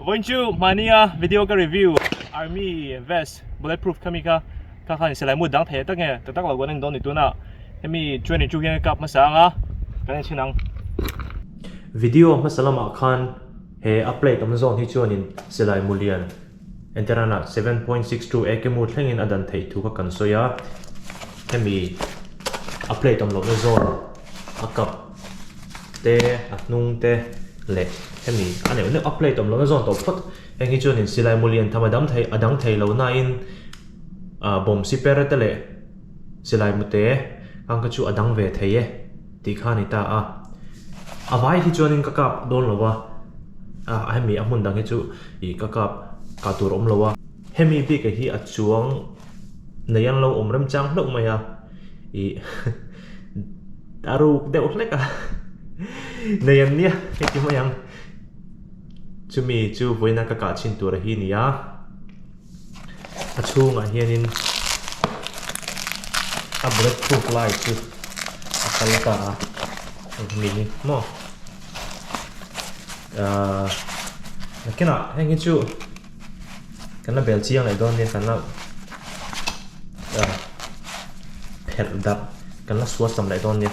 Vawiin chu hmani a video ka review army vest bullet proof kha mi kha kha khan selai mu dang thei tak nge tak tak lo kan indon ni tuna hemi training chu hian kap hmasa anga kan in chin ang video hmasa lamah khan he a plate awm zawng hi chuanin selai mu lian Entirana seven point six two a kemu thlengin a dan theih thu kha kan sawi a, hemi a plate awm lohna zawr a cup te a hnung te leh hemi a neuh neuh a plate awm lohna zawr tawh phawt heng hi chuan in silai mawli an tham a dam thei a dang thei lo nain ah bawmsi per te leh. Silai mute, Kangka chu a dang ve thei e, tih kha a ni ta a. A vai hi chuanin ka kap dawn lo a, a hemi a hmun dang hi chu ih ka kap ka tur awm lo a. Hemi bike hi a chuang nei an lo awm rem chang hlauh mai a, ih a ruk deuh hlek a, nei an nia hre ti mai ang. Chumi chu vawiin a ka kah chhin tur hi a ni a. a chhungah hianin a brake phuk lai chu a kal ta a eng nge ni maw ahh nakinah heng hi chu kan la bel chiang leh dawn nia kan la ahh phelh darh kan la suarsam leh dawn nia.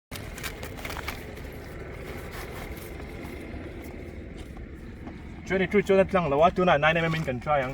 Twenty two chuan a tlang lo a tunah nine mm in kan try ang.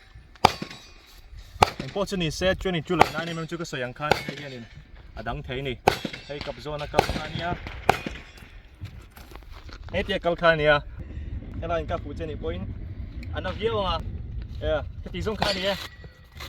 Eng pawh chu ni se twenty two lah nine mm chu ka sawi ang khan hei hian in a dang thei a ni. Hei kap zawna kal kha a nia. Hei te kal kha a nia. Helaiin ka hmu che ni pawhin a na viau ang a. Ea, heti zawng kha a ni e.